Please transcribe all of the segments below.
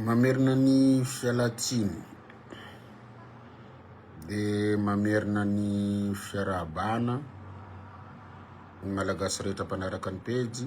Mamerina ny fialan-tsiny dia mamerina ny fiarahabana ny Malagasy rehetra mpanaraka ny pejy.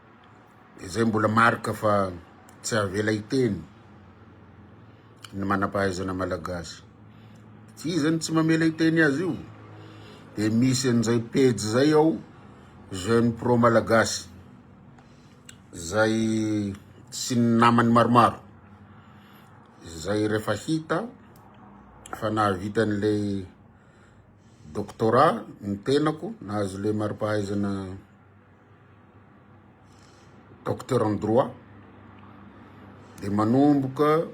izay mbola marika fa tsy avela hiteny ny manam-pahaizana malagasy. Tsy izy zany tsy mamela hiteny azy io. Dia misy an'izay pejy izay ao Jeune Pro Malagasy izay sy ny namany maromaro. Izay rehefa hita fa nahavita an'ilay doctorat ny tenako, nahazo ilay mari-pahaizana Docteur en droit dia manomboka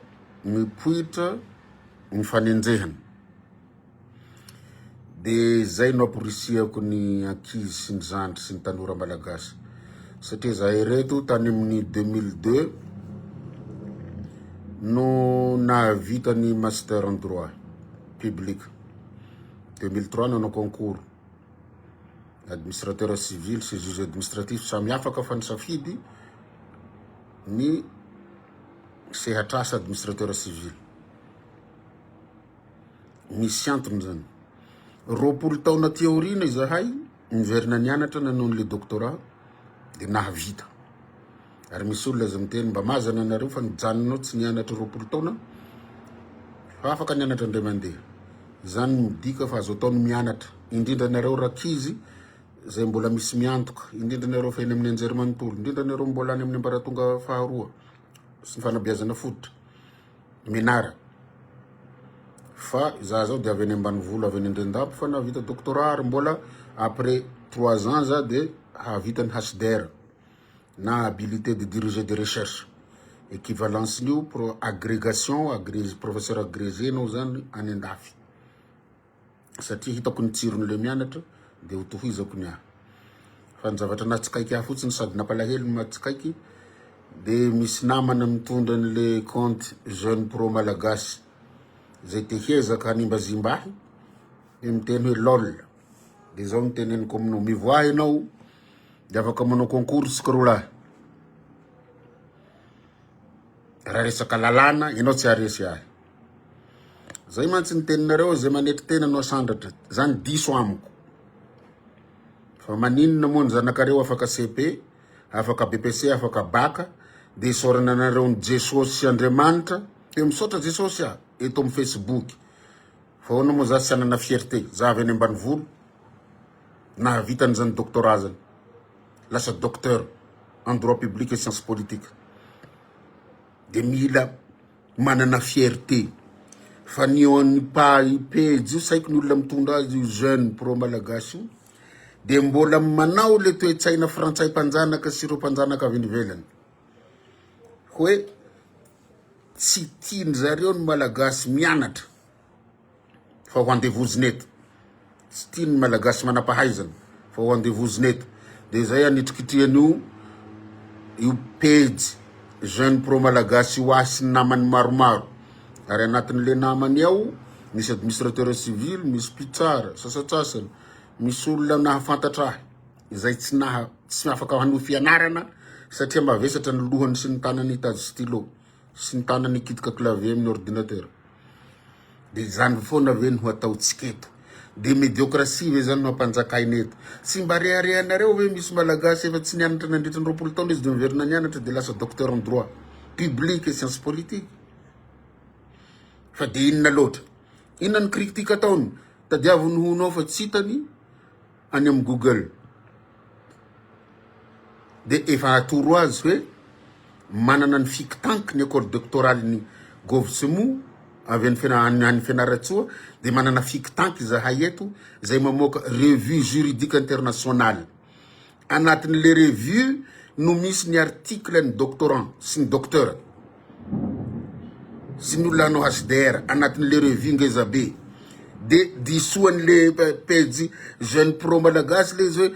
mipoitra ny fanenjehana. Dia izay no amporisihako ny ankizy sy ny zandry sy ny tanora malagasy satria izahay ireto tany amin'ny 2002 no nahavita ny master en droit public, 2003 nanao concours. administrateur civil sy juge administratif samy afaka fa nisafidy ny sehatr'asa administrateur civil misy antony zany roapolo taona aty aoriana izahay niverina nianatra nanao an'le doctorat dia nahavita Ary misy olona aza miteny mba mazana anareo fa nijanonao tsy nianatra roapolo taona fa afaka nianatra indray mandeha. Izany midika fa azo atao ny mianatra, indrindra anareo rankizy izay mbola misy miantoka, indrindra anareo efa eny amin'ny anjerimanontolo, indrindra anareo mbola any amin'ny ambaratonga faharoa sy ny fanabeazana fototra, menara. Fa izaho zao dia avy any ambanivolo, avy any Andrendampo fa nahavita doctorat ary mbola après trois ans za dia hahavita ny HDR. na habilité de diriger des recherches. Equivalence-n'io pro agrégation agrégé professeur agrégé anao zany any andafy. Satria hitako ny tsiron'ilay mianatra dia ho tohizako ny ahy. Fa ny zavatra nahatsikaiky ahy fotsiny sady nampalahelo ny mahatsikaiky dia misy namana mitondra an'ilay compte jeune pro malagasy izay te hiezaka hanimbazimba ahy dia miteny hoe lol. Dia izao no teneniko aminao, mivoaha ianao dia afaka manao concours isika roa lahy. Raha resaka lalàna, ianao tsy haharesy ahy. Zay mantsy ny teninareo, izay manetry tena no asandratra. Izany diso amiko. Fa maninona moa ny zanakareo afaka CP, afaka BPC, afaka baka, dia isaorana anareo ny Jesosy sy Andriamanitra. Dia misaotra Jesosy aho, eto amin'ny Facebook. Fa ahoana moa za tsy hanana fierté, za avy any ambanivolo, nahavita an'izany doctorat zany, lasa docteur en droit public et science politique, de mila manana fierté, fa ny eo an'ny page io sahiko ny olona mitondra azy io jeune pro malagasy io de mbola manao le toe-tsaina frantsay mpanjanaka sy ireo mpanjanaka avy any ivelany hoe Tsy tian zareo ny malagasy mianatra fa ho andevozina eto. Tsy tian ny malagasy manapahaizana fa ho andevozina eto. Dia zay anitrikitrihany io io pejy jeune pro malagasy io ahy sy ny namany maromaro. Ary anatin le namany ao misy administrateur civil, misy mpitsara sasatsasany, misy olona nahafantatra ahy. izay tsy naha tsy afaka hanohy fianarana satria mavesatra ny lohany sy ny tanany hitady stylo sy ny tanany hikitika clavier amin'ny ordinateur. Dia izany foana ve no hataontsika eto? Dia médiocratie ve izany no hampanjakaina eto? Tsy mba reharehanareo ve misy malagasy efa tsy nianatra nandritra ny roapolo taona izy dia miverina nianatra dia lasa docteur en droit public et sciences politiques? Fa dia inona loatra? Inona ny critique ataony? Tadiavo ny hono ao fa tsy hitany any amin'ny google dia efa atoro azy hoe manana ny fik tank ny accord doctoral ny govsmu avy any fena any any Fianarantsoa dia manana fik tank izahay eto izay mamoaka revue juridique internationale anatin'ilay revue no misy ny article ny doctorant sy ny docteur sy ny olona hanao HDR anatin'ilay revue ngeza be de diso an'ilay pejy jeune pro malagasy ilay izy hoe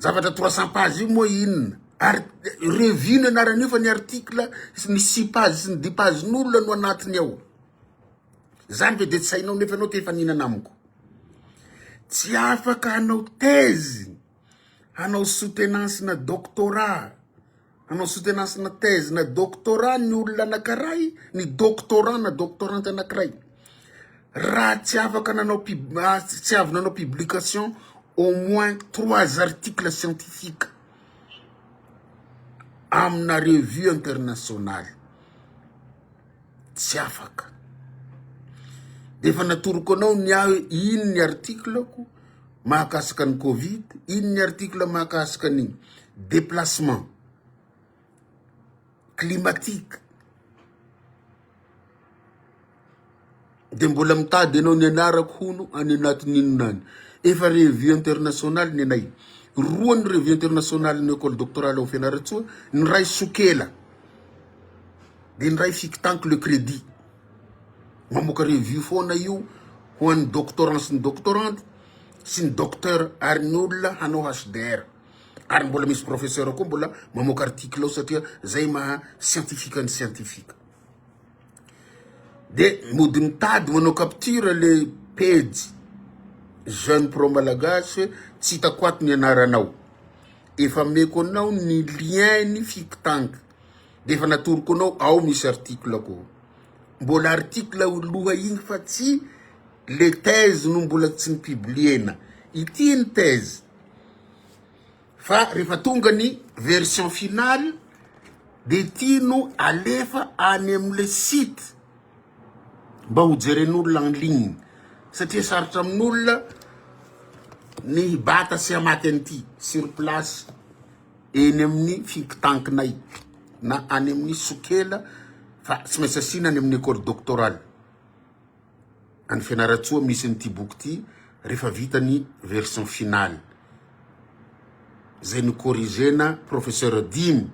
zavatra trois cent page io moa inona ary revue ny anaran'io fa ny article sy ny six page sy ny dix page n'olona no anatiny ao zany ve de tsy hainao nefa ianao te hifaninana amiko tsy afaka hanao thèse hanao soutenance na doctorat Hanao soutenance na thèse na doctorat ny olona anankiray, ny doctorant na doctorante anankiray, raha tsy afaka nanao pub- ah, tsy avy nanao publication au moins trois articles scientifiques amina revue internationale. tsy afaka efa natoroko anao ny ahy iny ny artiklako mahakasika ny covid iny ny artikle mahakasika ny deplacement climatique Dia mbola mitady anao nianarako hono any anatin'ny inona any. Efa revue internationale ny anay. Roa ny revue internationale ny école doctorale ao Fianarantsoa, ny iray Sokela. Dia ny iray Fictanc le crédit. Mamoaka revue foana io ho an'ny doctorant sy ny doctorante sy ny docteur ary ny olona hanao HDR. Ary mbola misy professeur koa mbola mamoaka article ao satria zay maha scientifique ny scientifique. De mody mitady manao capture le pejy jeune pro malagasy hoe tsy hitako ato ny anaranao, efa ameko anao ny lien ny fictang de efa natoroko anao ao misy article-ko, mbola article loha iny fa tsy le thèse no mbola tsy ni-publier-na, ity ny thèse. Fa rehefa tonga ny version finale dia ity no alefa any amin'ilay site mba hojeren'olona en ligne satria sarotra amin'olona ny hibata sy hamaky an'ity sur place eny amin'ny think tank-nay na any amin'ny sokela fa tsy maintsy asiana any amin'ny école doctorale. any Fianarantsoa misy an'ity boky ity rehefa vita ny version finale izay nocorrigena professeur dimy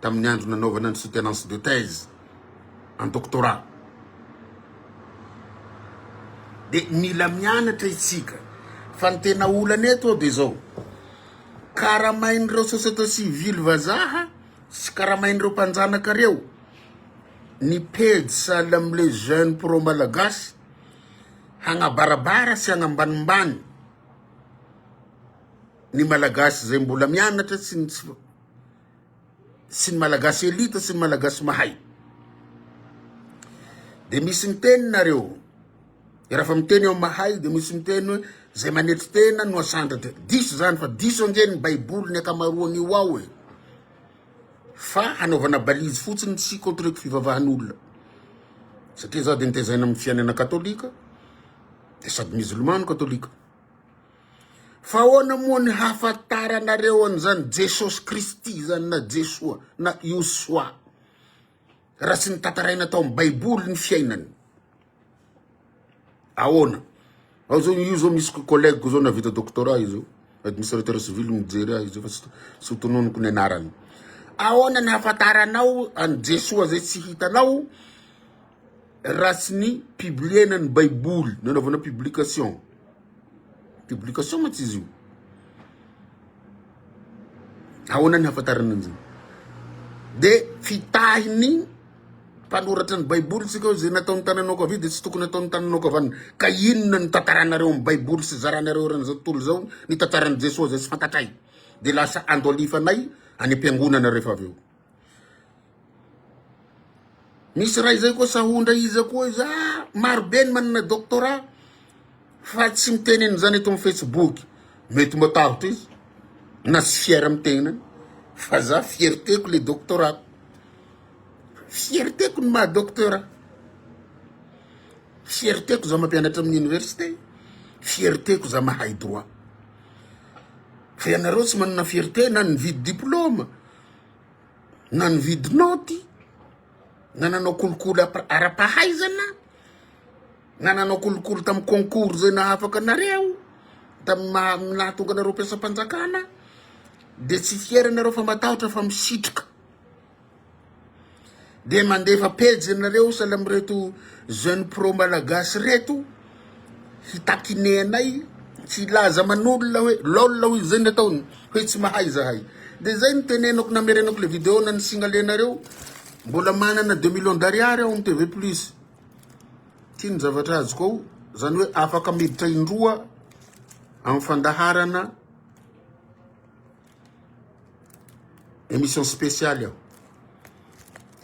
tamin'ny andro nanaovana ny soutenance de thèse en doctorat de mila mianatra itsika fa ny tena olana eto ao de zao karamain'ireo société civile vazaha sy karamain'ireo mpanjanaka reo ny pejy Salam les jeunes pro Malagasy hagnabarabara sy hagnambanimbany ny Malagasy izay mbola mianatra sy ny tsy sy ny Malagasy elite sy ny Malagasy mahay de misy miteny nareo rafa miteny eo mahay de misy miteny hoe zay manetry tena no asandratra diso zany fa diso ange ny baiboly ny akamaroany io ao e Fa hanaovana balise fotsiny tsy contre-ko fivavahan'olona. Satria za de nitezaina amin'ny fiainana katolika de sady musulman no katolika. Fa ahoana moa ny hahafantaranareo an'izany Jesosy Kristy zany na Jesoa na Iosoa. raha tsy notantaraina tao amin'ny baiboly ny fiainany ahoana ao zao io zao misy collègue zao navita doctorat io zao administrateur civil mijery ahy zao fa tsy tsy ho tononiko ny anarany ahoana ny hafantaranao any jesoa zay tsy hitanao raha tsy ny publiena ny baiboly nanaovana publication publication mantsy izy io Ahoana ny hahafantarana an'izany? Dia fitahin'ny mpanoratra ny Baiboly isika hoe izay nataon'ny tananao ankavia dia tsy tokony hataon'ny tananao ankavanana. Ka inona no tantaranareo amin'ny Baiboly sy zaranareo eran'izao tontolo izao ny tantaran'i Jesoa izay tsy fantatray? Dia lasa andolifanay any am-piangonana rehefa avy eo. Misy ray zay koa sahondra iza koa izy ah marobe ny manana doctorat fa tsy miteny an'izany eto amin'ny facebook, mety matahotra izy na tsy fier amin'ny tenany fa za fierteko le doctorat-ko, fierteko ny maha doctorat, fierteko za mampianatra amin'ny université, fierteko za mahay droit, fa ianareo tsy manana fierte na nividy diploma. na nividy naoty, na nanao kolikoly ara-pahaizana, na nanao kolikoly tamin'ny concours izay nahafaka anareo, tamin'ny maha nahatonga anareo mpiasam-panjakana, dia tsy fiera ianareo fa matahotra fa misitrika. dia mandefa pejy anareo sahala amin'ireto jeune pro malagasy reto hitakiné anay tsy hilaza aman'olona hoe lol hoy izay ny ataony hoe tsy mahay zahay dia izay ny tenenako namerenako le video na ny singalenareo mbola manana deux millions d'ariary aho ny tv plus tia ny zavatra azoko ao izany hoe afaka miditra indroa amin'ny fandaharana Emission speciale aho.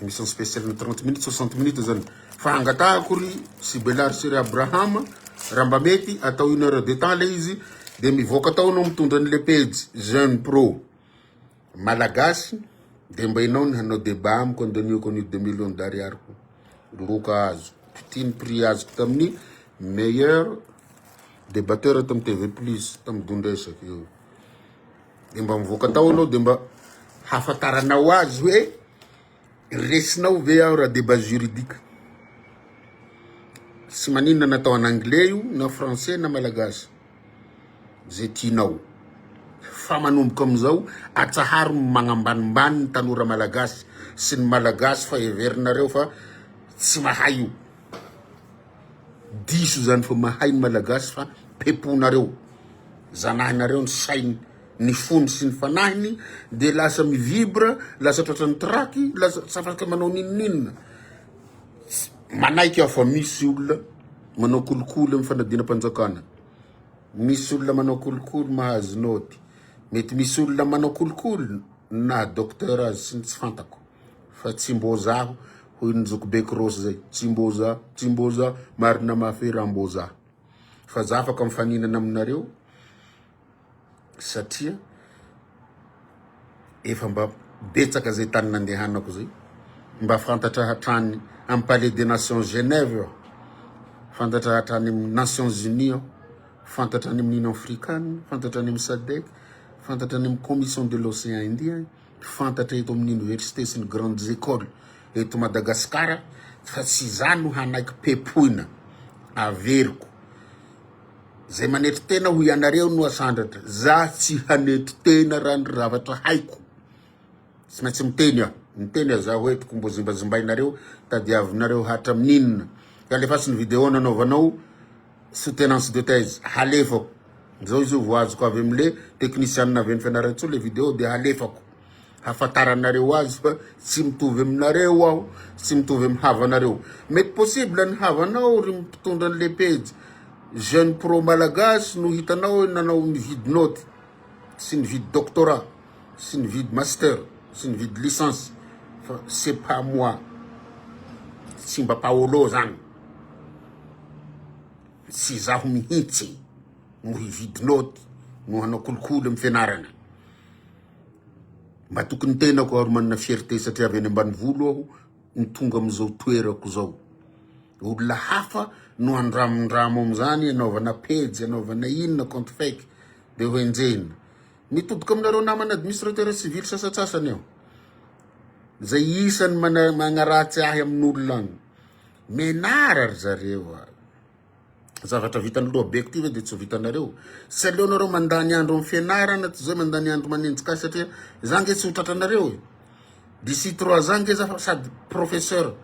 Emission speciale na trente minutes, soixante minutes zany. Fa angatahako ry Sibelary sy ry Abraham raha mba mety atao une heure de temps le izy de mivoaka tao anao mitondra an'le pejy Jeune Pro Malagasy de mba enao ny hanao débat amiko andaniako an'io deux millions d'ariary ko. Loka azo. Ity ny prix azoko tamin'ny meilleur débatteur tamin'ny TV Plus tamin'ny Dondresaky io. dia mba mivoaka tao anao dia mba hafantaranao azy hoe resinao ve aho raha débat juridique tsy maninona natao en anglais io na français na malagasy zay tianao fa manomboka amin'izao atsaharo ny magnambanimbany ny tanora malagasy sy ny malagasy fa heverinareo fa tsy mahay io Diso zany fa mahay ny malagasy fa peponareo zanahinareo ny sainy ny fony sy ny fanahiny de lasa mi vibre lasa tratran'ny traky lasa tsy afaka manao ninoninona manaiky aho fa misy olona manao kolikoly amin'ny fanadinam-panjakana misy olona manao kolikoly mahazo naoty mety misy olona manao kolikoly na docteur azy sy ny tsy fantako Fa tsy mbô zaho hoy ny zokibe Cross zay, tsy mbô za, tsy mbô za, marina mafy hoe raha mbô za. Fa za afaka mifaninana aminareo satria efa mba betsaka zay tany nandehanako zay, mba fantatra hatrany amin'ny palais des nations Genève aho, fantatra hatrany amin'ny nations unies aho, fantatra any amin'ny union africane, fantatra any amin'ny Sadec, fantatra any amin'ny commission de l'océan indien. mpifantatra eto amin'ny Université sy ny Grandes Ecoles eto Madagasikara fa tsy izaho no hanaiky pepoina, averiko. Izay manetry tena hoy ianareo no asandratra, za tsy hanetry tena raha ny zavatra haiko. Tsy maintsy miteny aho, miteny aho za hoentiko mbo zimbazimbainareo, tadiavinareo hatramin'inona. Alefaso ny vidéo nanaovanao. Soutenance de thèse halefako zao izy io vao azoko avy am le technician avy any Fianarantsoa le video de halefako hafataranareo azy fa tsy mitovy aminareo aho tsy mitovy am havanareo mety possible ny havanao ry mpitondra anle pejy jeune pro malagasy no hitanao nanao nividy note sy nividy doctorat sy nividy master sy nividy licence fa c'est pas moi tsy mba paolo zany Tsy izaho mihitsy no hividy naoty no hanao kolikoly amin'ny fianarana. Matoky ny tenako ary manana fierté satria avy any ambanivolo aho no tonga amin'izao toerako izao. Olona hafa no andramondramo amin'izany anaovana pejy, anaovana inona, compte fake, dia hoenjehina. Mitoboka aminareo namana administrateur civil sasantsasany aho, izay isan'ny magnaratsy ahy amin'olona any. Menara ry zareo a! Zavatra vitan'ny lohabeiko ty ve dia tsy ho vitanareo? Tsy aleonareo mandany andro amin'ny fianarana toy izay mandany andro manenjika ahy satria za nge tsy ho tratranareo e! D'ici trois ans nge za fa sady professeur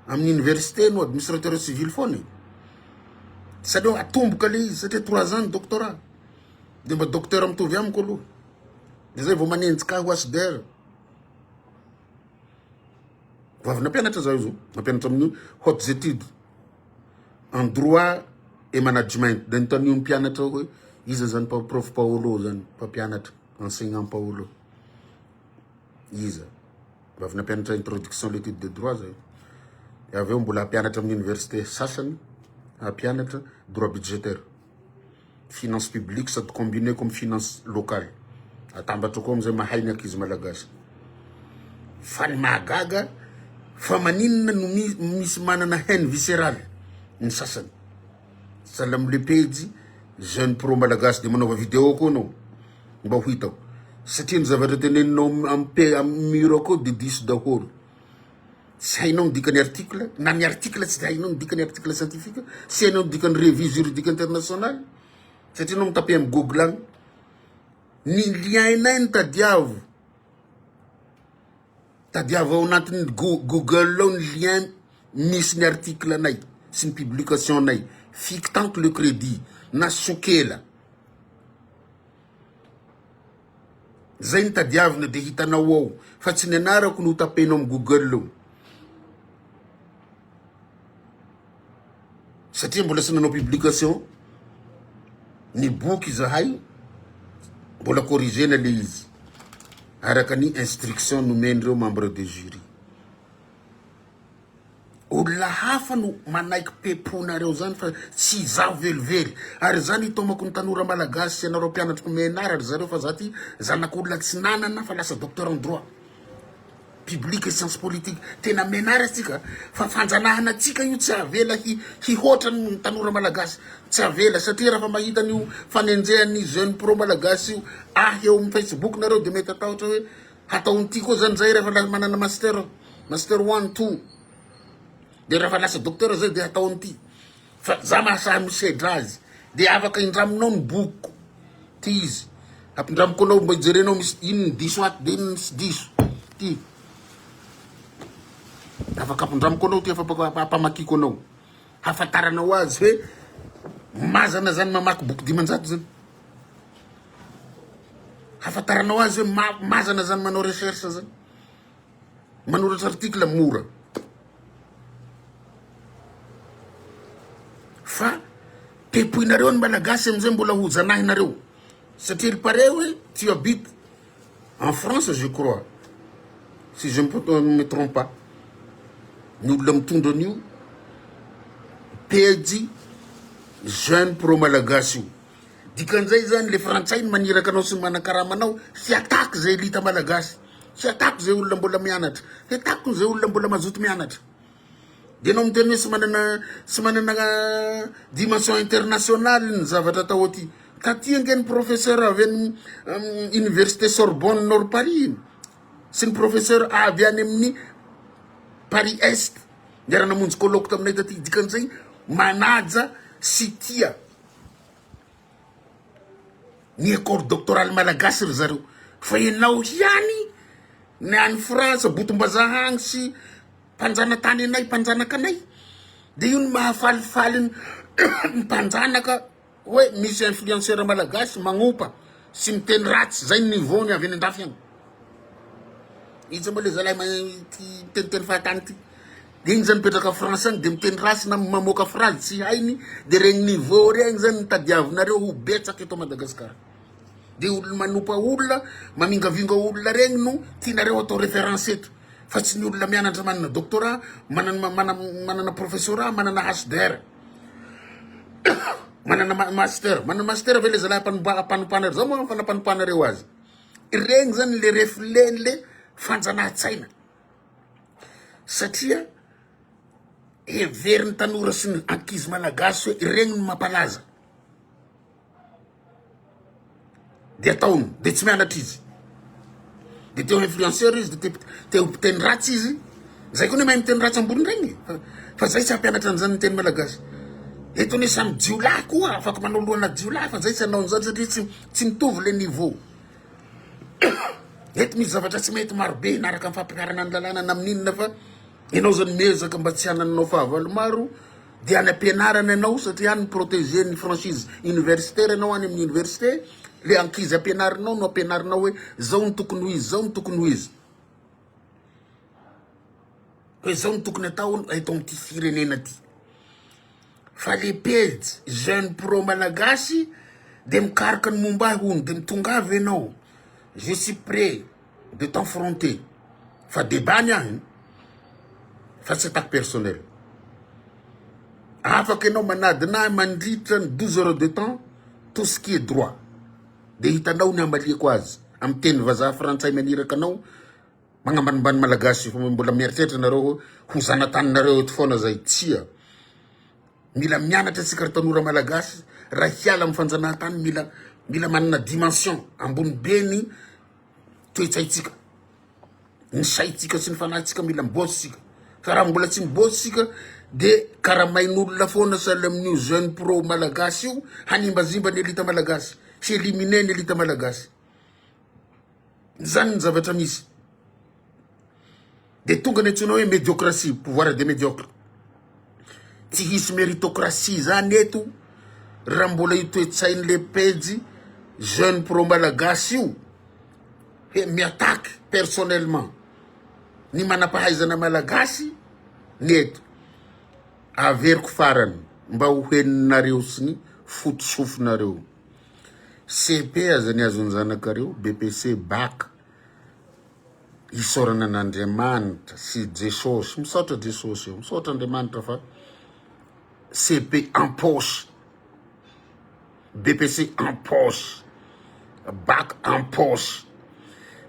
amin'ny université no administrateur civil foana e! Tsy aleo atomboka le izy satria trois ans ny doctorat dia mba docteur mitovy amiko aloha dia zay vao manenjika ahy ho HDR. Vao avy nampianatra zaho izao, nampianatra amin'ny hautes études en droit et management. Dia notanio ny mpianatra hoe iza zany prof Paolo zany, mpampianatra, enseignant Paolo. Iza? Vao avy nampianatra introduction à l'étude de droit zaho. Dia avy eo mbola hampianatra amin'ny université sasany, hampianatra droit budgétaire. Finance publique sady combiner ko amin'ny finance locale. Atambatra ko amin'izay mahay ny ankizy malagasy. Fa ny mahagaga fa maninona no misy manana haine viscerale ny sasany. Sahala amin'ilay pejy Jeune Pro Malagasy dia manaova vidéo ko ianao mba ho hitako. Satria ny zavatra teneninao amin'ny mur ko dia diso daholo. tsy hainao ny dikany article na ny article tsy de hainao ny dikany article scientifique tsy hainao ny dikany revue juridique international satria anao mitape am google agny ny liainay ny tadiavo tadiavo ao anatin'ny google ao ny lien misy ny article anay sy ny publication anay fiky tamiko le crédit na sokela Zay no tadiavina dia hitanao ao fa tsy ny anarako no hotapenao amin'ny google satria mbola tsy nanao publication ny boky izahay mbola corrigena le izy araka ny instruction nomen'ireo membre de jury Olona hafa no manaiky peponareo zany fa tsy izaho velively ary za nitaomako ny tanora malagasy sy anareo mpianatriko menara ry zareo fa za ty zanak'olona tsy nanana fa lasa docteur en droit public et science politique tena menara tsika fa fanjanahana tsika io tsy avela hi hihoatra ny tanora malagasy tsy avela satria raha fa mahita an'io fanenjehan'ny jeune pro malagasy io ahy eo amin'ny facebook nareo de mety atahotra hoe hatao ny tiako zany zay rehefa la manana master master one two de rehefa lasa docteur zay de hatao an'ity fa za mahasahy misedra azy de afaka indraminao ny bokiko ty izy ampindramiko anao mba hijerenao misy ino ny diso ato de ino ny tsy diso ty afaka ampindramiko anao ty afa- ampamakiko anao hafantaranao azy hoe mazana zany mamaky boky dimanjato zany Hafantaranao azy hoe ma- mazana zany manao recherche zany. Manoratra article mora. Fa tepoinareo ny malagasy amizay mbola ho janahinareo. Satria ry pare hoe tu habites en France je crois. Si je ne peux- euh, ne me trompe pas. Ny olona mitondra an'io pejy jeune pro malagasy io. Dikan'izay zany le frantsay no maniraka anao sy ny manankarama anao tsy attaque zay elite malagasy tsy attaque zay olona mbola mianatra tsy attaque zay olona mbola mazoto mianatra de anao miteny hoe tsy manana tsy manana dimension international ny zavatra atao aty taty ange ny professeur avy any université sorbonne nord paris iny sy ny professeur avy any amin'ny paris est niara-namonjy colloque taminay taty dikan'izay manaja sy tia Ny accord doctoral malagasy ry zareo fa ianao ihany ny any France botom-bazaha any sy mpanjanatany anay mpanjanaka anay de io no mahafalifaly ny mpanjanaka hoe misy influenceur malagasy magnompa sy miteny ratsy zay ny niveau-ny avy any an-dafy any. Iza moa le zalahy miteniteny fahatany ty de igny zany mipetraka France agny de miteny ratsy na mamoaka phrase tsy hainy de regny niveau regny zany no tadiavinareo ho betsaka eto Madagascar de olo manopa olona mamingavinga olona regny no tianareo atao reference eto fa tsy ny olona mianatra manana doctorat manana manana professorat manana HDR manana master manana master ve le zalahy mpanompana ry zah moa fanampanompana reo azy. Ireny zany le reflet-ny le fanjanahan-tsaina satria heverin'ny tanora sy ny ankizy malagasy hoe ireny no mampalaza de ataony de tsy mianatra izy de te ho influenceur izy de te- te ho mpiteny ratsy izy zay koa ne mahay miteny ratsy ambonindrainy e. Fa- fa zay tsy hampianatra an'izany ny teny malagasy eto anie samy jiolahy koa afaka manao lohana jiolahy fa zay tsy hanao an'izany satria tsy Tsy mitovy le niveau. Eto misy zavatra tsy mety maro be naraka ny fampianarana ny lalàna na amin'ny inona fa ianao zany miezaka mba tsy hanananao fahavalo maro dia any am-pianarana ianao satria any mi-proteger ny franchise universitaire ianao any amin'ny université le ankizy ampianarinao no ampianarinao hoe zao no tokony ho izy, zao no tokony ho izy. Koa izao no tokony atao eto amin'ity firenena ity fa le pejy jeune pro malagasy de mikaroka ny momba ahy hono de mitongava ianao je suis près de t'enfronter fa debat ny ahy fa tsy attaque personnelle afaka ianao manadina ahy mandritra ny douze heures de temps tout ce qui est droit. Dia hitanao ny hamaliako azy amin'ny teny vazaha frantsay maniraka anao magnambanimbany malagasy fa mbola mieritreritra nareo hoe ho zanataninareo eto foana zay tsia mila mianatra tsika ry tanora malagasy raha hiala amin'ny fanjanahantany mila mila manana dimension ambony be ny toe-tsaintsika, ny saintsika sy ny fanahintsika mila miboatra isika fa raha mbola tsy miboatra isika de karamain'olona foana sahala amin'io jeune pro malagasy io hanimbazimba ny elite malagasy, hi-eliminer ny elite malagasy, zany ny zavatra misy. Dia tonga ny antsoina hoe mediocratie, pouvoir des mediocres. Tsy hisy meritocratie izany eto raha mbola io toe-tsain'ilay pejy jeune pro malagasy io hoe mi-attaque personnellement ny manam-pahaizana malagasy ny eto. Averiko farany mba ho henonareo sy ny foto sofinareo. CEP aza ny azon'ny zanakareo, BPC, bac. isaorana an' Andriamanitra sy i Jesosy, misaotra Jesosy ô, misaotra Andriamanitra fa CP en poche, BPC en poche, Bac en poche,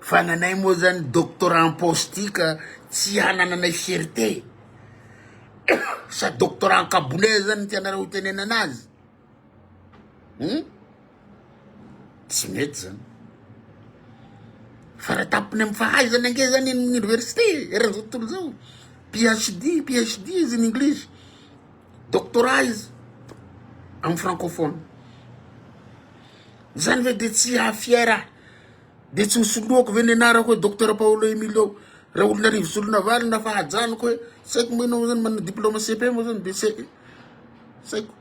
fa ny anay moa zany doctorat en poche ty ka tsy hanananay fierté, sa doctorat an-kabonay zany ny tianareo hitenenana azy? Hum? Tsy mety zany. Fara tampony amin'ny fahaizana ange zany eny amin'ny université eran'izao tontolo izao. PhD, PhD izy in English. Doctorat izy amin'ny francophone. Zany ve dia tsy hahafiera ahy? Dia tsy ho soloako ve ny anarako hoe Docteur Paolo Emilio Raholinarivo Solonavalona fa hajanoko hoe saiko moa ianao zany manana diplôma CEPE moa zany dia saiko.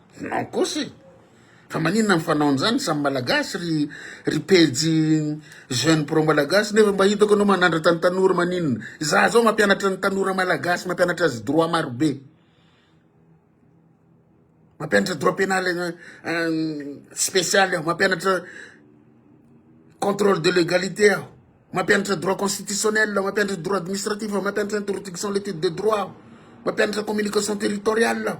Non kosa e! Fa maninona ny fanaony zany samy malagasy ry ry pejy jeune pro malagasy nefa mba hitako anao manandratra ny tanora maninona? Izaho zao mampianatra ny tanora malagasy mampianatra azy droit maro be. Mampianatra droit pénal spécial aho mampianatra contrôle de légalité aho. Mampianatra droit constitutionnel, mampianatra droit administratif, mampianatra introduction l'étude de droit aho, mampianatra communication territoriale aho.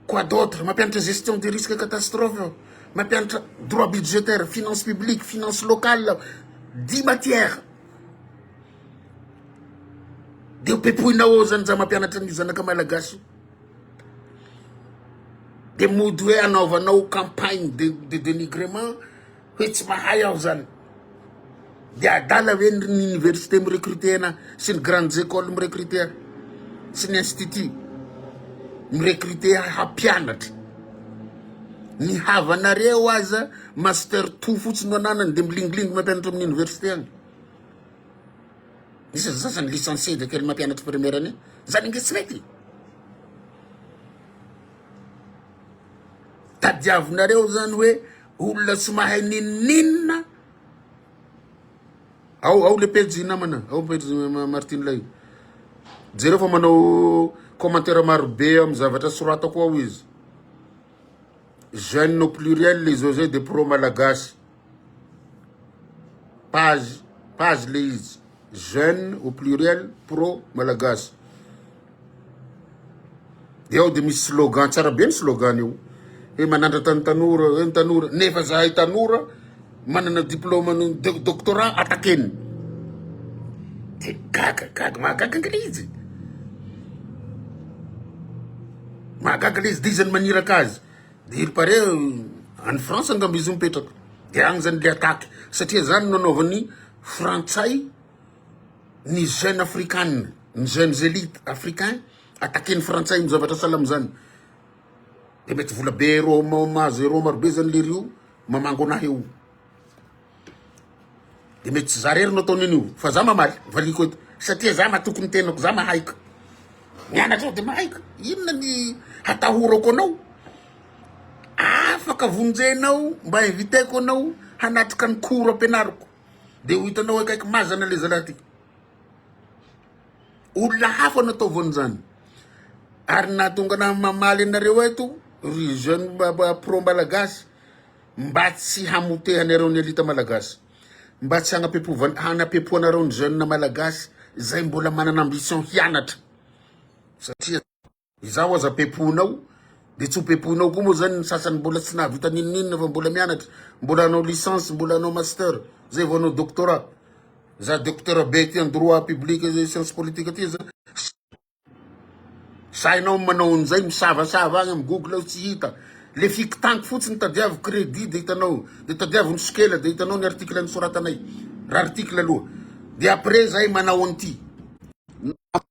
Quoi d'autre? Mampianatra gestion des risques catastrophes aho, mampianatra droit budgétaire, finance publique, finance locale aho. Dix matières. Dia pepoina ao zany za mampianatra an'io zanaka malagasy io. Dia mody hoe anaovanao campagne de, de dénigrement, Hoe tsy mahay aho zany. Dia adala ve ny université mi-recruter-na sy ny grandes écoles mi-recruter sy ny institut mi-recruter hampianatra? Ny havanareo aza master two fotsiny no ananany dia milingilingy mampianatra amin'ny université agny. Misy ny sasany licencié dia kely mampianatra primaire any. Zany nge tsy mety. Tadiavinareo zany hoe. Olona tsy mahay ninoninona ao ao le pejy namana ao pejy Martine lay jereo fa manao commentaire maro be amin'ny zavatra soratako ao izy jeune au pluriel izao zay de pro malagasy page page le izy jeune au pluriel pro malagasy Dia ao dia misy slogan, tsara be ny slogan io. Hoe manandratra ny tanora, hoe ny tanora, nefa zahay tanora manana diplôma ny doctorat atakeny. Dia gaga, gaga, mahagaga angala izy. Mahagaga le izy, dia izy no maniraka azy. Dia il paraît any France angamba izy mipetraka. Dia any zany le attaque, satria zany no anaovan'ny frantsay. ny jeune afrikana ny jeunes elite africain attaquer ny frantsay no zavatra sahala amizany de mety vola be ero mahazo ero maro be zany lery io mamango anah eo de mety tsy za rery no ataony an'io fa za mamaly valiako eto satria za matoky ny tenako za mahay ka mianatra ao de mahay ka inona ny hatahorako anao afaka vonjenao mba inviteko anao hanatrika ny cours ampianariko Dia ho hitanao akaiky mazana ilay zalahy ity. Olona hafa no ataovany izany. Ary nahatonga anah mamaly anareo eto, ry jeune pro malagasy, mba tsy hamotehanareo ny elite malagasy. Mba tsy hanapepovan- hanapepoanareo ny jeune malagasy izay mbola manana ambition hianatra. Satria. Izaho aza pepohinao dia tsy ho pepohinao koa moa zany ny sasany mbola tsy nahavita n'inon'inona fa mbola mianatra, mbola hanao licence, mbola hanao master, zay vao hanao doctorat. Za docteur be aty en droit public et science politique aty aza sahinao ny manao an'izay misavasava agny am google ao tsy hita. Le fikitaniko fotsiny tadiavo credit de hitanao, de tadiavo ny sokela de hitanao ny article nisoratanay, raha article aloha. De après zahay manao an'ity.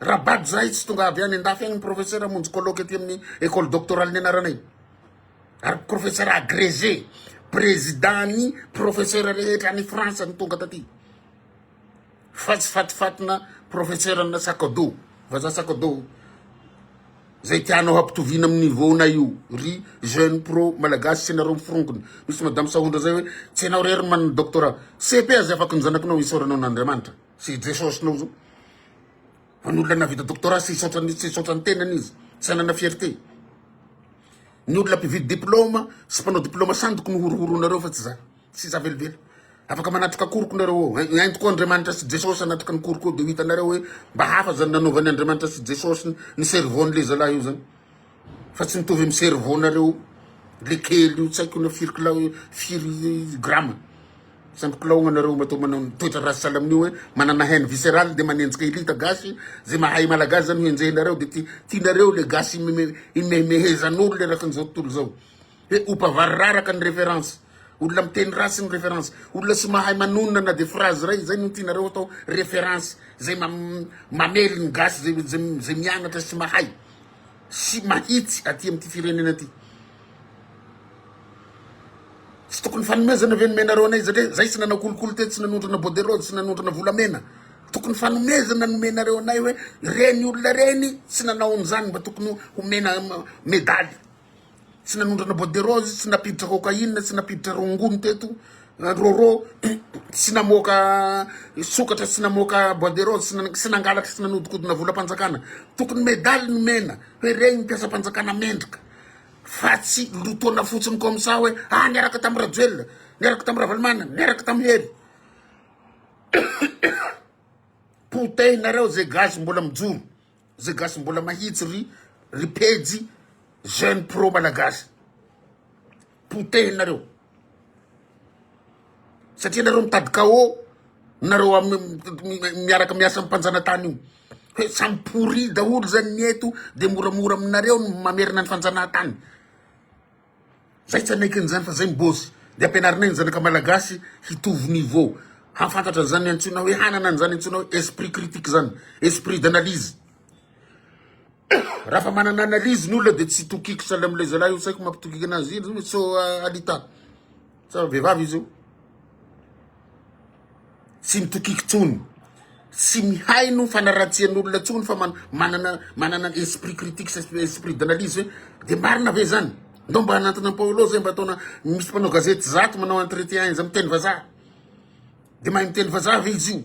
Rabad zahay tsy tonga avy any andafy agny professeur amonjy colloque aty amin'ny école doctorale nianaranay ary professeur agrégé président ny professeur rehetra any France no tonga taty fa tsy fatifatina professeur ana sakado vaza sakado zay tianao hampitoviana amin'ny niveau na io ry jeune pro malagasy tsy nareo miforongony misy madame sahondra zay hoe tsy ianao rery manana doctorat cepe aza afaka ny zanakinao isaoranao an'Andriamanitra sy i Jesosy nao zao. Fa ny olona nahavita doctorat tsy hisaotra ny tsy hisaotra ny tenany izy, tsy hanana fierté. Ny olona mpividy diplôma sy mpanao diplôma sandoky no horohoronareo fa tsy za. Tsy za velively. Afaka manatrika koriko nareo ao. Ento koa Andriamanitra sy Jesosy hanatrika ny koriko eo dia ho hitanareo hoe mba hafa zany nanaovan'i Andriamanitra sy Jesosy ny cerveau-n'le zalahy io zany. Fa tsy mitovy amin'ny cerveau nareo le kely io tsy haiko na firy kila hoe firy grama tsy ampy kilaogna nareo matoa manao ny toetra ratsy sahala amin'io hoe manana haine viscerale de manenjika elite gasy ze mahay malagasy zany ho enjehinareo de ti- tianareo le gasy imeme- imehimehezan'olo le rakin'izao tontolo zao Dia ho bavariraraka ny reference. Olona miteny ratsy ny reference. Olona tsy mahay manonona na dia phrase iray, izay no tianareo atao reference. Izay mamely ny gasy, izay mianatra sy mahay sy mahitsy aty amin'ity firenena ity. Tsy tokony fanomezana ve nomenareo anay satria izay tsy nanao kolikoly tetsy, tsy nanondrana bordereau, tsy nanondrana volamena. Tokony fanomezana nomenareo anay hoe ireny olona ireny tsy nanao an'izany mba tokony homena medaly. Tsy nanondrana bois de rose, tsy nampiditra cocaïne, tsy nampiditra rongony teto, rôrô, tsy namoaka sokatra, tsy namoaka bois de rose, tsy nan- tsy nangalatra, tsy nanodikodina volam-panjakana. Tokony medaly nomena hoe regny ny mpiasam-panjakana mendrika fa tsy lotoana fotsiny comme ça hoe ah niaraka tamin'i Rajoelina, niaraka tamin'i Ravalomanana, niaraka tamin'i Hery. Potehina reo ze gasy mbola mijoro. Ze gasy mbola mahitsy ry ry pejy jeune pro malagasy potehinareo satria nareo mitady cao nareo amy miaraka miasa amy mpanjanatany io hoe samy pourri daholo zany ny eto de moramora aminareo ny mamerina ny fanjanahantany Zay tsy hanaiky an'izany fa zay ny boss. De ampianarinay ny zanaka malagasy hitovy niveau, hahafantatra an'izany antsoina hoe, hanana an'izany antsoina hoe esprit critique zany, esprit d'analyse. Raha fa manana analyse ny olona de tsy tokiko sahala amin'ilay zalahy io, tsy haiko mampitokiko anazy iny sao alita. Tsara vehivavy izy io. Tsy mitokiky tsony. Tsy mihaino fanaratsian'olona tsony fa manana manana esprit critique sy esprit d'analyse hoe de marina ve zany? Ndao mba hanantona Paolo zay mba ataona misy mpanao gazety zato manao entretien izy miteny vazaha. De mahay miteny vazaha ve izy io?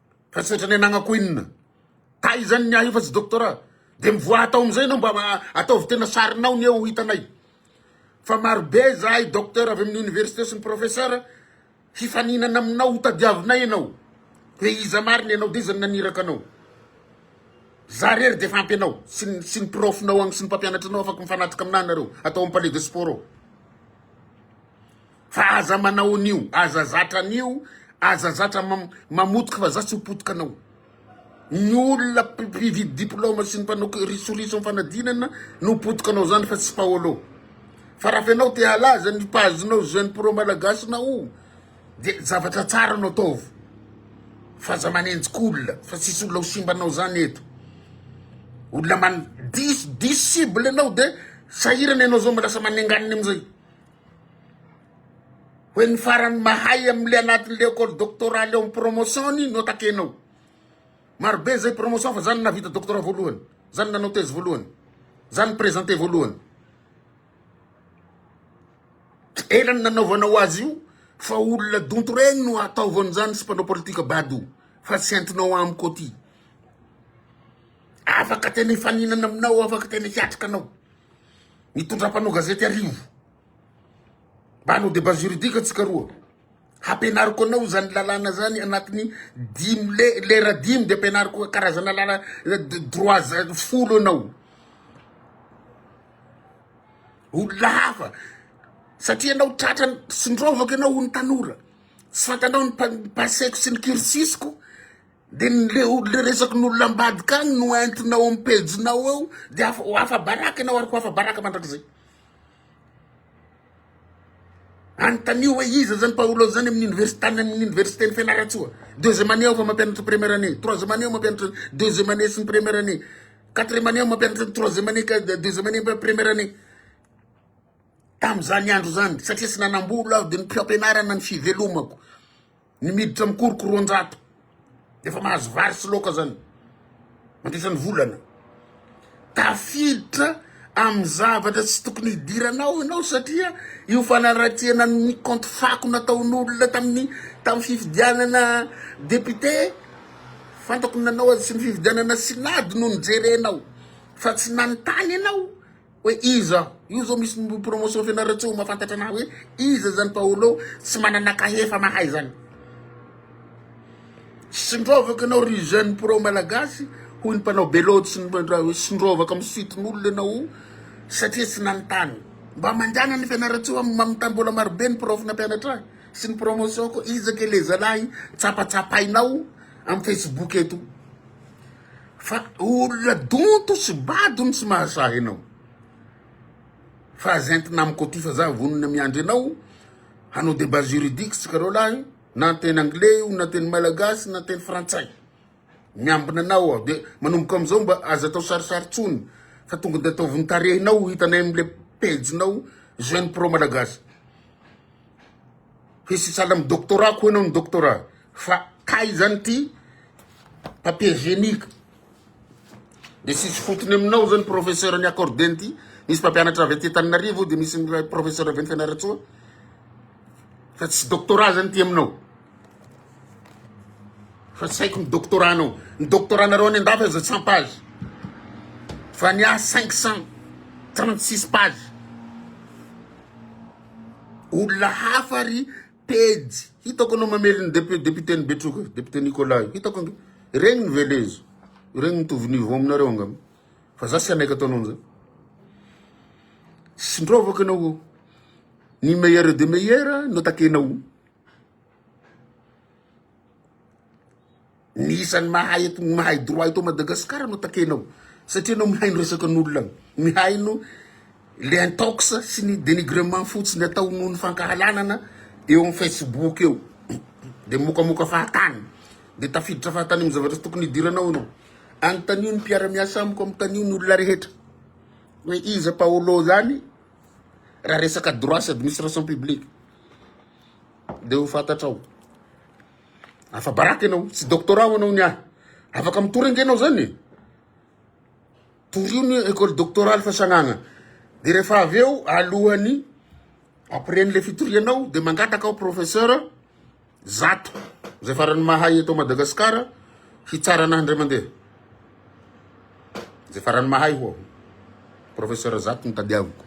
Fa tsy ohatran'ny anagnako inona. Taizany ny ahy io fa tsy doctorat. Dia mivoaha atao amin'izay ianao mba ataovy tena sarinao ny eo ho hitanay. Fa marobe izahay docteur avy amin'ny université sy ny professeur hifaninana aminao ho tadiavinay ianao hoe iza marina ianao dia iza no naniraka anao. Izaho irery dia efa ampy anao sy ny sy ny prof-nao agny sy ny mpampianatra anao afaka mifanatrika aminahy nareo atao amin'ny palais de sport ao. Fa aza manao an'io, aza zatra an'io, aza zatra mamotika vazaha tsy ho potika anao. Ny olona mpividy diploma sy ny mpanao risoriso amin'ny fanadinana no potika anao zany fa tsy Paolo. Fa raha fa ianao te halaza ny page-nao jeune pro malagasinao de zavatra tsara no ataovy fa aza manenjika olona fa tsisy olona ho simba anao zany eto. Olona man- diso diso cible anao de sahirana ianao zao lasa manenganina amizay. Hoe ny farany mahay amin'le anatin'le école doctorale ao amin'ny promotion-ny no takenao. Marobe izay promotion fa za no nahavita doctorat voalohany, za no nanao thèse voalohany, za no ni-presenter voalohany. Ela ny nanaovanao azy io fa olona donto regny no ataovy an'izany sy mpanao politika bado fa tsy entinao amiko aty. Afaka tena hifaninana aminao, afaka tena hiatrika anao. Mitondra mpanao gazety arivo. Mba hanao debat juridique antsika roa. Hampianariko anao izany lalàna izany anatin'ny dimy le- lera dimy dia ampianariko karazana lala droit za- folo anao. Olona hafa. Satria ianao tratra ny tsindrovako ianao ho ny tanora. Tsy fantanao ny pa- ny passé-ko sy ny cursus-ko. Dia ny le le resakin'olona ambadika any no entinao amin'ny pejinao eo dia afa ho afa-baraka ianao ary ho afa-baraka mandrakizay. Anontanio hoe iza zany Paolo zany amin'ny université tany amin'ny université-n'i Fianarantsoa. Deuxième année aho fa mampianatra première année, troisième année aho mampianatra deuxième année sy ny première année. Quatrième année aho mampianatra ny troisième année ka de- deuxième année mpa- première année. Tamin'izany andro izany satria tsy nanam-bola aho dia ny mpiampianarana ny fivelomako. Ny miditra mikoroko roanjato efa mahazo vary sy laoka zany mandritra ny volana. Tafiditra amin'ny zavatra tsy tokony hidiranao ianao satria io fanaratiana ny kaonty fako nataon'olona tamin'ny tamin'ny fifidianana député fantako ny nanao azy sy ny fifidianana synady no nijerenao fa tsy nanontany ianao Hoe iza? Io zao misy promotion fianarana tsy ho mahafantatra anah hoe iza zany Paolo tsy manana kahie fa mahay zany. Sindrovako ianao ry jeune pro malagasy hoy ny mpanao beloty sy ny mpandrao hoe sindrovako amin'ny suitin'olona ianao satria tsy nanontany. Mba mandehana ny fianarantsoa amin'ny mamitany mbola marobe ny prof nampianatra ahy sy ny promotion ko iza ke le zalahy tsapatsapainao amin'ny facebook eto. Fa olona donto sy bado no tsy mahasahy anao. Fa aza entina amiko aty fa za vonona miandry anao hanao debat juridique tsika roa lahy na teny anglais io na teny malagasy na teny frantsay. Miambina anao aho de manomboka amizao mba aza atao sarisary tsony fa tonga de ataovy ny tarehinao hitanay amle pejinao jeune pro malagasy. Hisy sahala amin'ny doctorat koa ianao ny doctorat fa kay izany ity papier génique dia tsisy fotony aminao izao ny professeur ny accordé ity misy mpampianatra avy aty Antananarivo dia misy ny professeur avy any Fianarantsoa fa tsy doctorat izany ity aminao fa tsy haiko ny doctorat anao ny doctorat nareo any an-dafy aza cent page fa ny ahy cinq cent trente six page Olona hafa ry Pejy. Hitako anao mamely ny député-n'i Betroka io, député Nicolas io. Hitako ange. Regniny ve le izy? Regniny mitovy niveau aminareo angamba. Fa za tsy hanaiky ataonao an'zay. Tsy ndrovako ianao o. Ny meilleur de meilleur notakenao. Ny isan'ny mahay eto ny mahay droit eto Madagascar no takenao satria enao mihaino resakan'olona mihaino le intox sy ny denigrement fotsiny atao noho ny fankahalanana eo amin'ny facebook eo de mokamoka fahatany de tafiditra fahatany amin'ny zavatra tsy tokony hidiranao enao anontanio ny mpiara-miasa amiko anontanio ny olona rehetra hoe iza Paolo zany raha resaka droit sy administration publique Ndeha ho fantatrao. Afa-baraka ianao, tsy doctorat ho anao ny ahy. Afaka mitory ange ianao zany e. Torio ny école doctorale fa sagnagna. De rehefa avy eo alohan'ny après an'le fitorianao de mangataka aho professeur zato zay faran'ny mahay eto Madagasikara hitsara anahy indray mandeha. Zay farany mahay ho'a ho. Professeur zato no tadiaviko.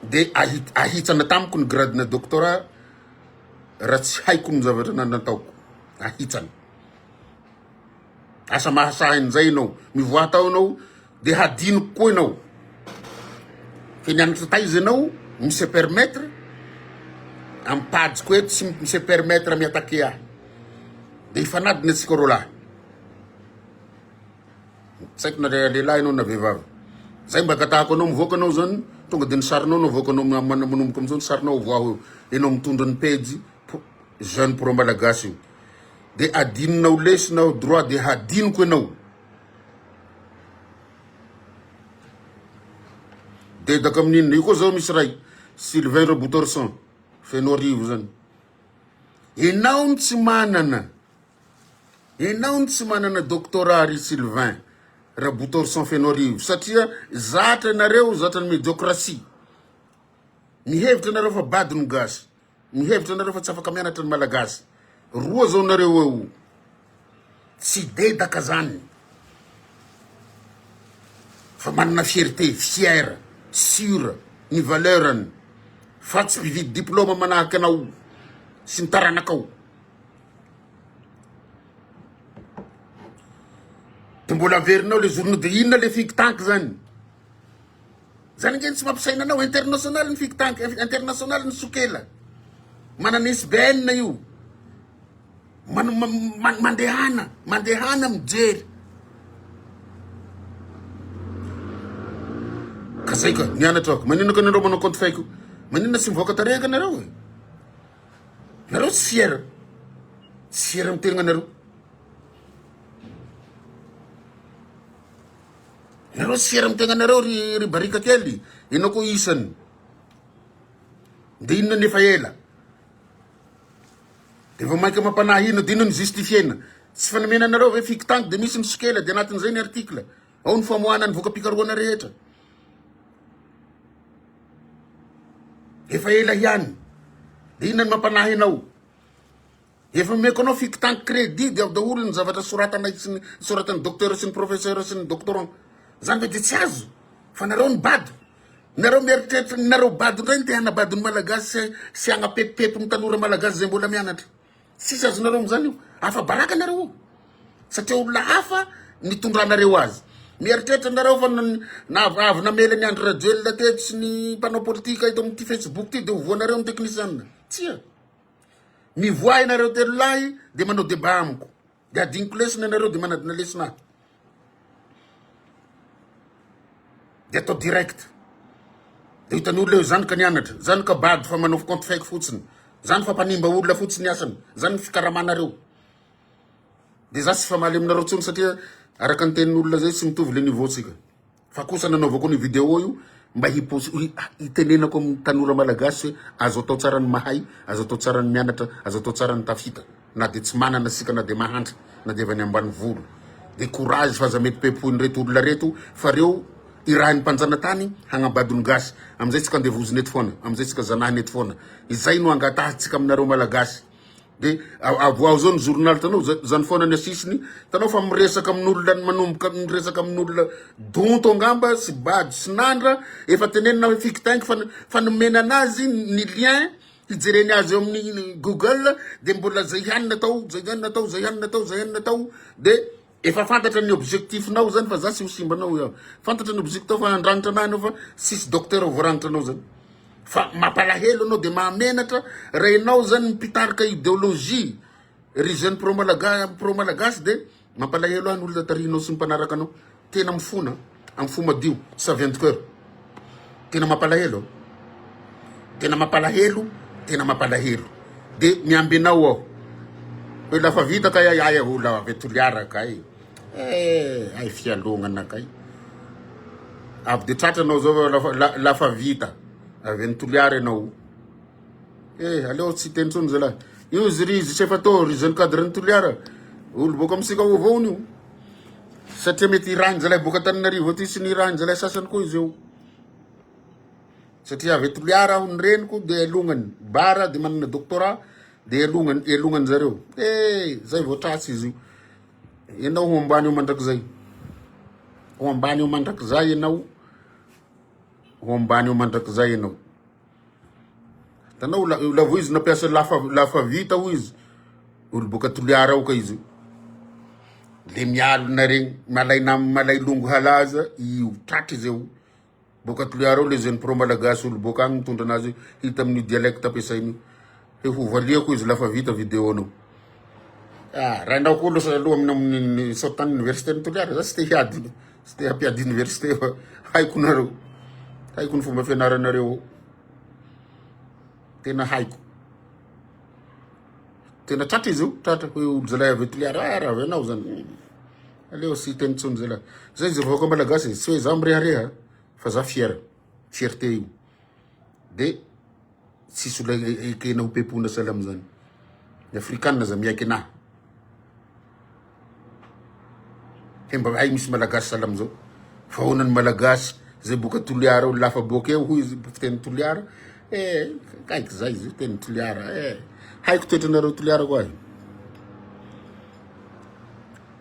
Dia ahitsana tamiko ny gradena doctorat raha tsy haiko ny zavatra nataoko. Ahitsana. Asa mahasahy an'izay ianao. Mivoaha tao ianao. Dia hadinoko koa ianao fa nianatra taiza ianao mi se permettre amin'ny pajiko eto sy mi se permettre mi attaquer ahy. Dia hifanadina antsika roa lahy. Tsy haiko na lehilahy ianao na vehivavy. Zay mba angatahako anao mivoaka ianao zany tonga dia ny sarinao no avoakanao am- am- manomboka amin'izao ny sarinao avoaho eo. Ianao mitondra ny pejy pro- jeune pro-malagasy io. Dia hadinonao lesy na droit dia hadinoko ianao. Dedaka amin'ny inona? Io koa zao misy ray Sylvain Robotorson Fenoarivo zany. Enao ny tsy manana. Enao ny tsy manana doctorat ry Sylvain Rabotorson Fenoarivo satria zatra ianareo zatra ny mediokrasia. Mihevitra ianareo fa bado ny gasy. Mihevitra nareo fa tsy afaka mianatra ny malagasy roa zao nareo eo tsy dedaka zany fa manana fierté fier sur ny valeurny fa tsy mpividy diploma manahaka anao sy ny taranakao de mbola averinao le zorona de inona le think tank zany Zany ange no tsy mampisaina anao. International ny think tank, international ny sokela. Manana ISBN io. Man, man, man, mandehana, mandehana mijery. Ka zay ka, nianatra ako. Maninona ka nareo manao compte fake? Maninona tsy mivoaka tarehaka nareo? Nareo tsy fier. Tsy fier amin'ny tegna nareo. Nareo tsy fier am tegna nareo ry ry barika kely enao ko isany de inona ny efa ela de vao maika mampanahy inona de inona ny justifiena tsy fanamena anareo ve fiky tangy de misy ny sokela de anatin'izay ny article ao ny famoahana ny voka-pikarohana rehetra efa ela ihany de inona ny mampanahy anao Efa omeko anao fikotan credit dia ao daholo ny zavatra soratanay sy ny soratan'ny docteur sy ny professeur sy ny doctoran. Zany ve dia tsy azo? Fa nareo ny bado. Nareo mieritreritra ny nareo bado indray ny te hanabado ny malagasy sy sy hagnapepopepo ny tanora malagasy zay mbola mianatra. Tsisy azonareo am'zany io. Afa baraka nareo io. Satria olona hafa nitondranareo azy. Mieritreritra nareo fa na- na- avy namela ny Andry Rajoelina teto sy ny mpanao politika eto amin'ity Facebook ty dia ho voanareo ny teknisianina. Tsia. Mivoaha ianareo telo lahy dia manao débat amiko. Dia adinoko lesona ianareo dia manadina lesona ahy. Dia atao direct. Dia hitan'ny olona eo izany ka nianatra. Izany ka bado fa manao compte fake fotsiny. Izany fa mpanimba olona fotsiny asany. Izany ny fikaramanareo. Dia za tsy famaly aminareo tsony satria araka ny tenin'olona zay tsy mitovy le niveau-tsika. Fa kosa nanaovako an'io video io mba hi-post- hi- ah, hitenenako amin'ny tanora malagasy hoe azo atao tsara ny mahay, azo atao tsara ny mianatra, azo atao tsara ny tafita. Na dia tsy manana isika, na dia mahantra, na dia avy any ambanivolo. Dia courage fa aza mety pepoin'ireto olona reto fa reo irahin'ny mpanjanatany hagnambado ny gasy. Amin'izay tsika andevozina eto foana, amin'izay tsika zanahina eto foana. Izay no angatahantsika aminareo malagasy. Dia avoaho zao ny journal tanao zany foana ny asisiny tanao fa miresaka amin'olona ny manomboka miresaka amin'olona donto angamba sy bado sy nandra efa tenenina hoe fikitaingy fa fa nomena anazy ny lien hijereny azy eo amin'ny google dia mbola zay ihany natao zay ihany natao zay ihany natao zay ihany natao dia Efa fantatra ny objectif nao zany fa za sy ho simba anao eo. Fantatra ny objectif tao fa handranitra anah anao fa sisy docteur voarangitra anao zany. Fa mapalahelo anao de mahamenatra raha enao zany mpitarika ideologie ry jeune pro malaga pro malagasy de mampalahelo ahy ny olona tarihinao sy ny mpanaraka anao. Tena mifona. Am fo madio savien de coeur. Tena mapalahelo tena mapalahelo tena mapalahelo de miamby anao aho hoe la fa vita kay ay aho la avy Toliara kay eh ay fialonana kay avy de tratra anao zao la fa vita avy any Toliara ianao. Eh, aleo tsy teny tsony zalahy. Io izy ry Zisefato, ry jeune cadre ny Toliara. Olo boka misika ho vaony io. Satria mety irahiny zalahy boka Tananarivo aty sy ny irahiny zalahy sasany koa izy eo. Satria avy eto Toliara aho ny reniko dia elongany bara dia manana doctorat dia elongany elongany zareo. Eh, zay vao tratsy izy io. Ianao ho ambany eo mandrakizay. Ho ambany eo mandrakizay ianao. Ho ambany eo mandrakizay ianao. Tanao la lavo izy nampiasa lafa lafa vita hoy izy. Olo boka Toliara ao ka izy. Le mialona regny malay nam malay longo halaza io tratra izy eo. Boka Toliara ao le jeune pro malagasy olo boka agny mitondra anazy hita amin'ny dialecte ampiasainy io. Dia ho valiako izy lafa vita video nao. Ah, rainao koa losa aloha amin'ny saotan'ny université ny Toliara, za tsy te hiady, tsy te hampiady université fa haiko nareo. Haiko ny fomba fianaranareo. Tena haiko. Tena tratra izy io, tratra hoe olozalahy avy Toliara, ah, raha avy anao zany. Aleo sy teny tsony zay lahy. Zay izy vahoaka malagasy, tsy hoe za mirehareha fa za fier, fierté io. Dia Tsisy olona ekena ho pepona sahala amin'izany. Ny afrikana aza miaiky anah. He mba hay misy malagasy sahala amin'izao. Fa ahoana ny malagasy zay boka Toliara olona hafa boka eo hoy izy mpiteny Toliara. Eh, kaiky zay izy teny Toliara. Eh, haiko toetranareo Toliara koa ahy.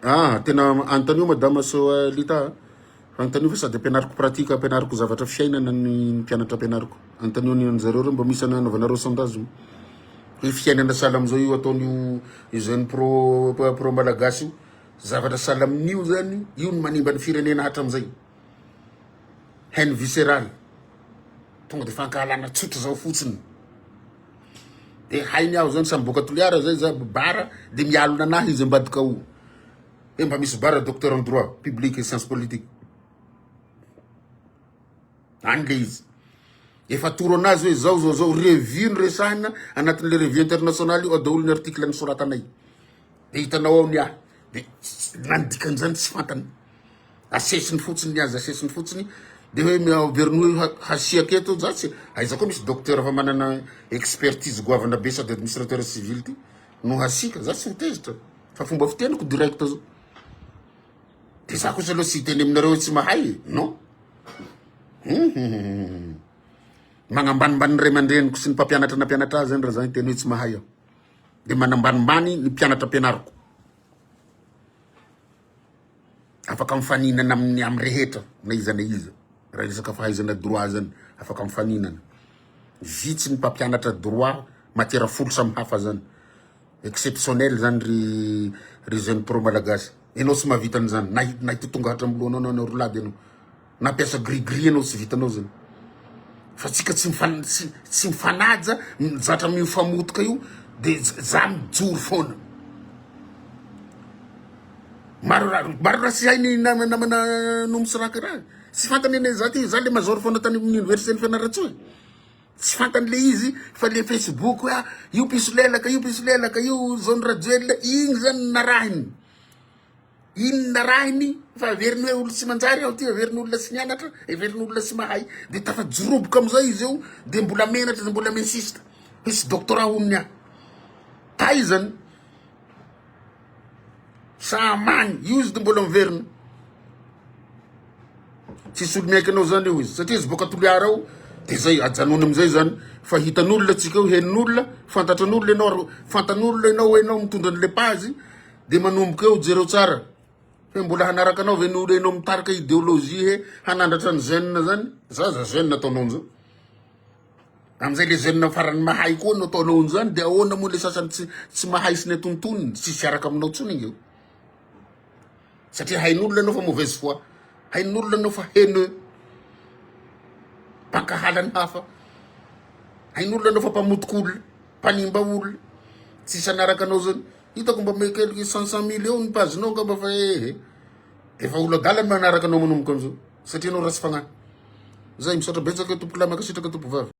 Ah, tena antanio madama Soalita. Antanio sady ampianariko pratique ampianariko zavatra fiainana ny mpianatra ampianariko antanio ny anjareo reo mba misy anaovanareo sondage mo hoe fiainana sahala amizao io ataon'io jeune pro pro malagasy io zavatra sahala amin'io zany io ny manimba ny firenena hatramizay haine viscérale tonga de fankahalana tsotra zao fotsiny de hainy aho zany samy boaka toliara zay za bara de mialona anahy izy ambadika ao Dia mba misy bara docteur en droit public et science politique any le izy efa atoro anazy hoe zao zao zao revue ny resahina anatin'le revue international io ao daholo ny article nysoratanay de hitanao ao ny ahy de na ny dikan'izany tsy fantany asesiny fotsiny ny azy asesiny fotsiny de hoe miaveriny hoe ha- hasiaka eto za tsy aiza koa misy docteur fa manana expertise goavana be sady administrateur civil ty no hasiaka, za tsy nitezitra fa fomba fiteniko direct zao. De za kosa aloha tsy hiteny aminareo tsy mahay e, non. Hum, magnambanimbany ny ray aman-dreniko sy ny mpampianatra nampianatra ahy zany raha za hiteny hoe tsy mahay aho. De manambanimbany ny mpianatra ampianariko. afaka mifaninana amin'ny amin'ny rehetra na iza na iza raha resaka fahaizana droit zany afaka mifaninana vitsy ny mpampianatra droit matiera folo samy hafa zany exceptionnel zany ry ry jeune pro malagasy ianao tsy mahavita an'izany na na hitotonga hatram'lohanao na na roa lahy de anao Nampiasa gris gris ianao tsy vitanao zany fa tsika tsy tsy mifanaja zatra mio famotika io de za mijoro foana maro maro raha tsy hainy namana no misiraka raha tsy fantany ane za ty za le mazoro foana tany amin'ny université ny fianaratsoa e. tsy fantany le izy fa le facebook a io piso lelaka io piso lelaka io zao ny rajoelina igny zany narahiny Inona raha ny fa heveriny hoe olona tsy manjary aho ity, heveriny olona tsy nianatra, heveriny olona tsy mahay. Dia tafajoroboka amin'izay izy eo, dia mbola menatra, dia mbola mi-insiste hisy doctorat ho an'ny ahy. Taizany, sahamany, io izy dia mbola miverina. Tsisy olo miaiky anao izany eo izy, satria izy boaka Toliara ao, dia izay, ajanony amin'izay izany. Fa hitan'olona antsika eo, henon'olona, fantatran'olona ianao ary fantan'olona ianao hoe ianao mitondra an'ilay page, Dia manomboka eo, jereo tsara. Hoe mbola hanaraka anao ve ny olo enao mitarika ideologie he hanandratra ny jeune zany? Za za jeune ataonao an'izao. Amin'izay le jeune farany mahay koa no ataonao an'izany dia ahoana moa le sasany tsy tsy mahay sy ny atontoniny, tsisy hiaraka aminao intsony io. Satria hain'olona anao fa mauvaise foi. Hain'olona anao fa haineux. Mpankahala ny hafa. Hain'olona anao fa mpamotikolona. mpanimba olona tsy sanaraka anao zany hitako mba me quelque cent cent mille eo ny page nao angamba fa ehe efa olo adala ny manaraka anao manomboka an'izao satria anao ratsy fagnahy zay misaotra betsaka tompokolahy mankasitraka tompovavy